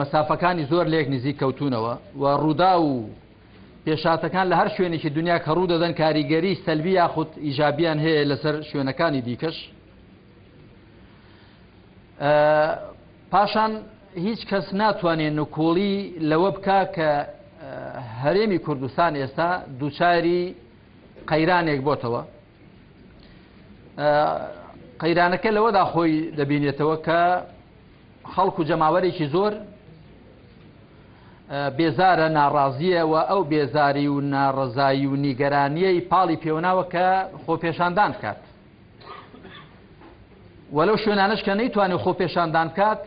مەسافەکانی زۆر لێک نزیک کەوتونەوە و ڕوودا و پێشاتەکان لە هەر شوێنێکی دنیا کە ڕوو دەدەن کاریگەری سەلبی یاخود ئیجابیان هەیە لەسەر شوێنەکانی دیکەش پاشان هیچ کەس ناتوانێت نکۆڵی لەوە بکە کە هەرێمی کوردستان ئێستا دووچاری قەیرانێک بۆتەوە قەیرانەکە لەوەدا خۆی دەبینێتەوە کە خەڵک و جەماوەرێکی زۆر بێزارە ناڕازیە و ئەو بێزاری و ناڕزایی و نیگەرانیەی پاڵی پێوناوە کە خۆپێشاندان بکات وەلو شوێنانش کە نەیتوانێت خۆپێشاندان بکات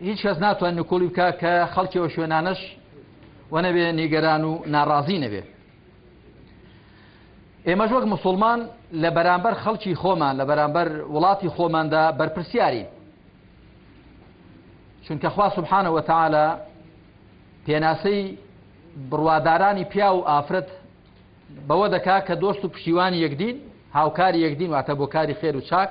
هیچ کەس ناتوان نکۆڵی بکە کە خەڵکیەوە شوێنانش وەنەبێ نیگەران و ناڕازی نەبێت ئێمەش وەک مسلمان لە بەرامبەر خەڵکی خۆمان لە بەرامبەر وڵاتی خۆماندا بەرپرسیارین چونکە خوا سبحانە وتعاالە پێناسەی بڕوادارانی پیا و ئافرەت بەوە دەکا کە دۆست و پشیوانی یەکدین هاوکاری یەکدین واتە بۆ کاری خێر و چاک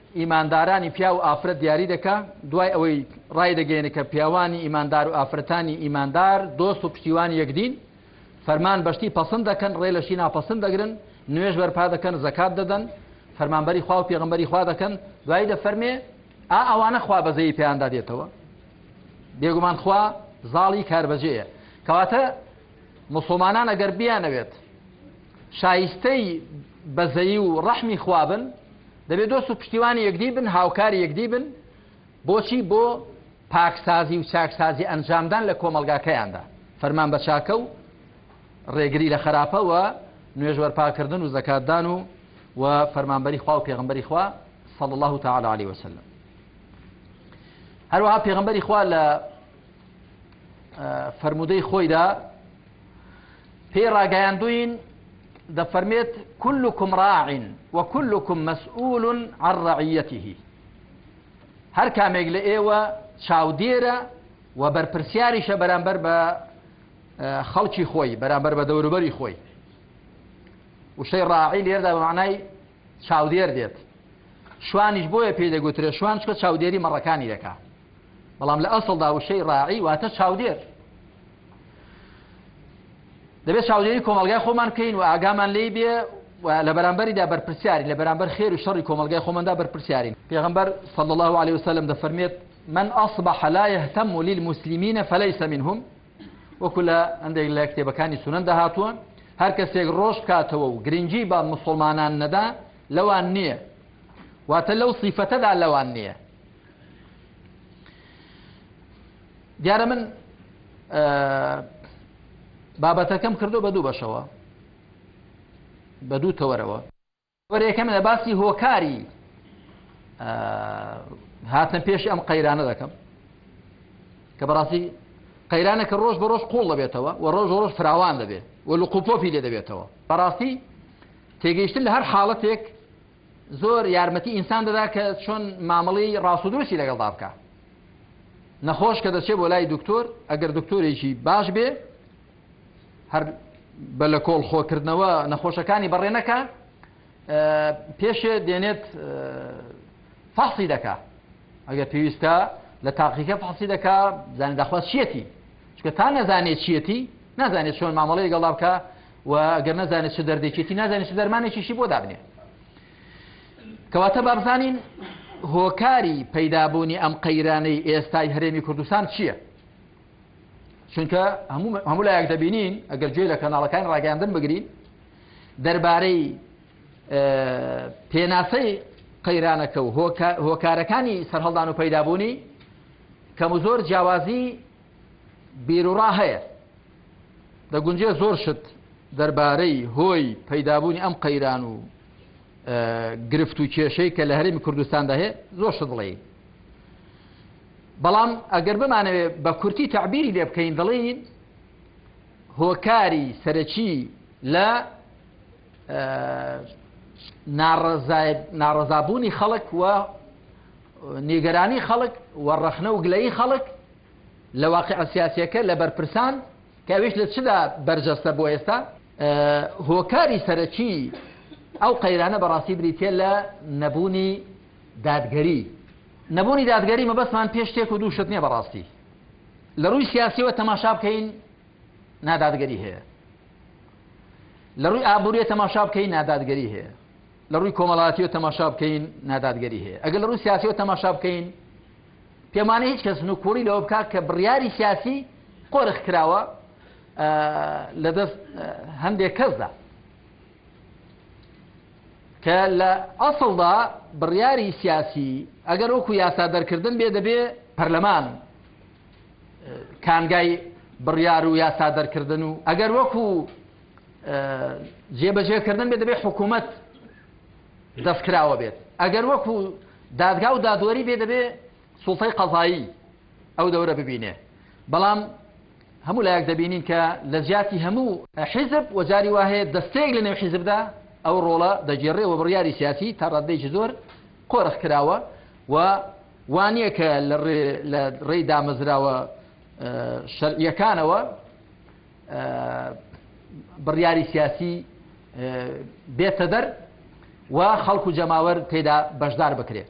ئیماندارانی پیاو و ئافرەت دیاری دەکا، دوای ئەوەی ڕایدەگەیەنێ کە پیاوانی ئیماندار و ئافرەتانی ئیماندار دۆست و پشتیوانی یەکدین، فەرمان بەشتی پەسند دەکەن، ڕێ لەشی ناپەسند دەگرن، نوێژ بەرپا دەکەن، زەکات دەدەن، فەرمانبەری خوا و پێغەمبەری خوا دەکەن، دوایی دەفەرمێ ئا ئەوانە خوا بەزەیی پێیاندا دێتەوە بێگومان خوا زاڵی کاربەجێیە کەواتە موسڵمانان ئەگەر بیانەوێت شایستەی بەزەیی و ڕەحمی خوا بن دەبێت دۆست و پشتیوانی یەکدی بن هاوکاری یەکدی بن بۆچی بۆ پاکسازی و چاکسازی ئەنجامدان لە کۆمەلگاکەیاندا فەرمان بە چاکە و ڕێگری لە خراپەوە نوێژوەەر پاکردن و زەکاتدان و و فەرمانبەری خوا و پێغمبەری خوا صلى الله تعالى عليه وسلم هەروەها پێغمبەری خوا لە فەرموودەی خۆیدا پێی ڕاگەیاندوین دەفەرمێت كلكم راع وكلكم مسؤول عن رعيته هەر کامێک لە ئێوە چاودێرە و بەرپرسیاریشە بەرامبەر بە خەڵکی خۆی بەرامبەر بە دەوروبەری خۆی وشەی ڕاعی لێردا بە معنای چاودێر دێت شوانیش بۆیە پێی دەگوترێ شوان چکە چاودێری مەڕەکانی دەکا بەڵام لە ئەسڵدا وشەی ڕاعی واتە چاودێر دەبێت چاودێری کۆمەلگای خۆمان بکەین و ئاگامان لی بێ لە بەرامبەریدا بەرپرسیاری لە بەرامبەر خێر و شەڕی کۆمەلگای خۆمەدا بەرپرسیارین پێغمبەر صلى الله عليه وسلم دەفەرمێت من أصبح لا يهتم للمسلمين فليس منهم وەکو لە هەندێک لە کتێبەکانی سونەندا هاتووە هەر کەسێک ڕۆژ بکاتەوە و گرنگی بە مسلمانان نەدا لەوان نییە واتە لەو سیفەتەدا لەوان نییە دیارە من بابەتەکەم کردو بە دوو بەشەوە بە دوو تەوەرەوە بەڕێکەم لە باسی هۆکاری هاتنە پێشی ئەم قەیرانە دەکەم کە بەڕاستی قەیرانە کە ڕۆژ بە ڕۆژ قوڵ دەبێتەوە و ڕۆژ ڕۆژ فراوان دەبێت و لە قوپۆپی لێ دەبێتەوە بەڕاستی تێگەیشتن لە هەر حاڵەتێک زۆر یارمەتی ئینسان دەدا کە چۆن مامەڵی ڕاستودرستی لەگەڵدا بکە نەخۆش کە دەچێت بۆ لای دکتۆر ئەگەر دکتۆرێکی باش بێ هەر بە لە کۆڵ خۆکردنەوە نەخۆشەکانی بەڕێ نەکە پێشێ دێنێت فەحسی دەکا ئەگەر پێویستە لە تاقیکە فەحسی دەکا زانانی داخواست چیەتی چکە تا نەزانێت چیەتی نازانێت چۆن مامەڵەی گەڵا بکە و گەر نەزانێت چ دەردێکێتی نازانێت چ دەرمانێکیشی بۆ دابنێ کەواتە بابزانین هۆکاری پەیدابوونی ئەم قەیرانەی ئێستای هەرێمی کوردستان چییە؟ چونکە هەموو لایەک دەبینین ئەگەر گوێ لە کەناڵەکانی ڕاگەاندن بگرین دەربارەی پێناسەی قەیرانەکە و هۆکارەکانی سەرهەڵدان و پەیدابوونی کەم و زۆر جیاوازی بیرروڕا هەیە دەگونجێ زۆر شت دەربارەی هۆی پەیدابوونی ئەم قەیران و گرفت و کێشەی کە لە هەرمی کوردستاندا هەیە زۆر شت بڵێ بەڵام ئەگەر بمانەوێ بە کورتی تەعبیری لێ بکەین دەڵێین هۆکاری سەرەکی لە ناڕەزابوونی خەڵک و نیگەرانی خەڵک و ڕەخنە و گلەی خەڵک لە واقع سیاسەکە لە بەرپرسان کەویش لە چدا بەرجەستە بۆ ئێستا هۆکاری سەرەکی ئەو قەیرانە بەڕاستی بریتە لە نەبوونی دادگەری نەبوونی دادگەری مەبەستمان پێ شتێک و دوو شت نییە بەڕاستی لە ڕووی سیاسیەوە تەماشا بکەین نادادگەری هەیە لە ڕووی ئابووریە تەماشا بکەین نادادگەری هەیە لە ڕووی کۆمەڵاتی و تەماشا بکەین نادادگەری هەیە ئەگەر لە ڕووی سیاسی و تەماشا بکەین پێمانە هیچ کەس نوکوڵی لەوە بکات کە بڕیاری سیاسی قۆرخ کراوە لە دەست هەندێک کەسدا کە لە ئەسڵدا بڕیاری سیاسی ئەگەر وەکو یاسا دەرکردن بێ دەبێ پەرلەمان کانگای بڕیار و یاسا دەرکردن و ئەگەر وەکو جێبەجێکردن بێ دەبێ حکوومەت دەستکراوە بێت ئەگەر وەکو دادگا و دادوەری بێ دەبێ سوڵتەی قەزایی ئەو دەورە ببینێ بەڵام هەموو لایەک دەبینین کە لە جیاتی هەموو حیزب و جاری وا هەیە دەستەیەک لە نێو حیزبدا ئەو ڕۆڵە دەگێڕێ و بڕیاری سیاسی تا ڕاددەیەکی زۆر قۆرخ کراوە و وانە کە لە ڕێی دامەزراوە شەرعیەکانەوە بڕیاری سیاسی بێتە دەر و خەڵکو جەماوەر تێدا بەشدار بکرێت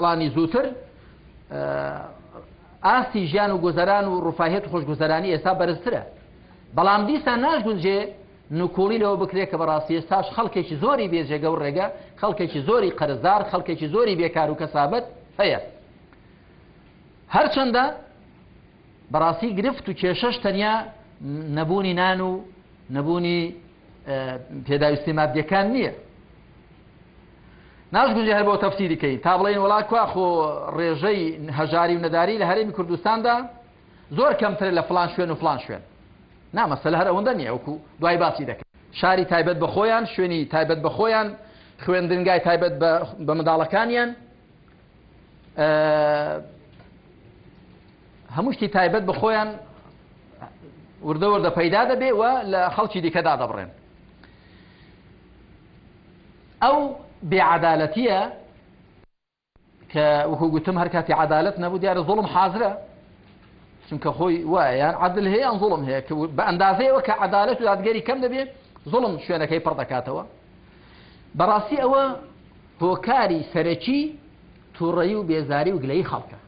ساڵانی زووتر ئاستی ژیان و گوزەران و ڕفاهێت و خۆشگوزەرانی ئێستا بەرزترە بەڵام دیسان ناشگونجێ نکۆڵی لەوە بکرێت کە بەڕاستی ئێستاش خەڵکێکی زۆری بێجێگە و ڕێگە خەڵکێکی زۆری قەرزدار خەڵکێکی زۆری بێکار و کەسابەت هەیە هەرچەندە بەڕاستی گرفت و کێشەش تەنیا نەبوونی نان و نەبوونی پێداویستی مادیەکان نییە ناشگوزی هەر بۆ تەفسیریکەی تا بڵێن وڵات کوا خۆ ڕێژەی هەژاری و نەداری لە هەرێمی کوردستاندا زۆر کەمتر لە فلان شوێن و فلان شوێن نامەسەل هەر ئەوەندە نیە وەکو دوای باسی دەکەن شاری تایبەت بە خۆیان شوێنی تایبەت بە خۆیان خوێندنگای تایبەت بە منداڵەکانیان هەموو شتی تایبەت بە خۆیان وردە وردە پەیدا دەبێ و لە خەڵکی دیکەدا دەبڕێن ئەو بێعادالەتیە کە وەکو گوتم هەر کاتی عدالت نەبوو دیارە زۆڵم حازرە چونکە خۆی وایە عدل هەیە ئەم زۆڵم هەیە بە ئەندازەیەوە کە عدالت و دادگەری کەم دەبێت زۆڵم شوێنەکەی پڕ دەکاتەوە بەڕاستی ئەوە هۆکاری سەرەکی توڕەیی و بێزاری و گلەیی خەڵکە.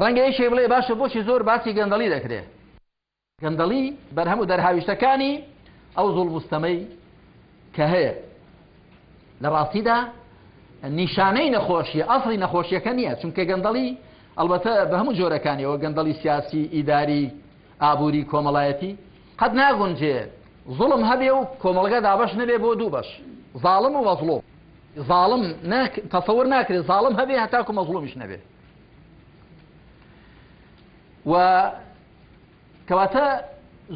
ڕەنگە یەکێک بڵێ باشە بۆچی زۆر باسی گەندەڵی دەکرێ؟ گەندەڵی بەرهەم و دەرهاویشتەکانی ئەو زوڵم و ستەمەی کە هەیە لە ڕاستیدا نیشانەی نەخۆشیە ئەسڵی نەخۆشیەکە نییە چونکە گەندەڵی ئەڵبەتە بە هەموو جۆرەکانیەوە گەندەڵی سیاسی ئیداری ئابوری کۆمەڵایەتی قەت ناگونجێ زوڵم هەبێ و کۆمەڵگە دابەش نەبێ بۆ دوو بەش زاڵم و مەزڵۆم زاڵم تەسەور ناکرێت زاڵم هەبێ هەتاکو مەزڵومیش نەبێ و کەواتە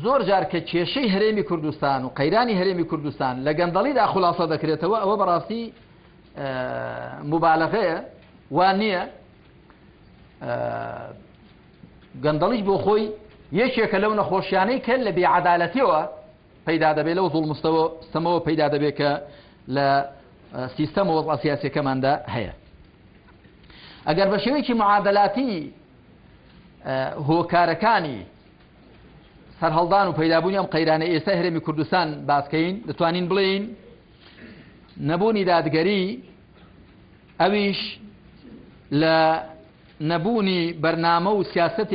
زۆر جار کە کێشەی هەرێمی کوردستان و قەیرانی هەرێمی کوردستان لە گەندەڵیدا خلاصە دەکرێتەوە ئەوە بەڕاستی مبالغەیە وان نییە گەندەڵیش بۆ خۆی یەکێکە لەو نەخۆشیانەی کە لە بێعەدالەتیەوە پەیدا دەبێت لەو زوڵم و ستەوە ستەمەوە پەیدا دەبێت کە لە سیستەم و وەزع سیاسیەکەماندا هەیە ئەگەر بە شێوەیەکی معادلاتی هۆکارەکانی سەرهەڵدان و پەیدابوونی ئەم قەیرانە ئێستا هەرێمی کوردستان باسکەین دەتوانین بڵێین نەبوونی دادگەری ئەویش لە نەبوونی بەرنامە و سیاسەتێکی.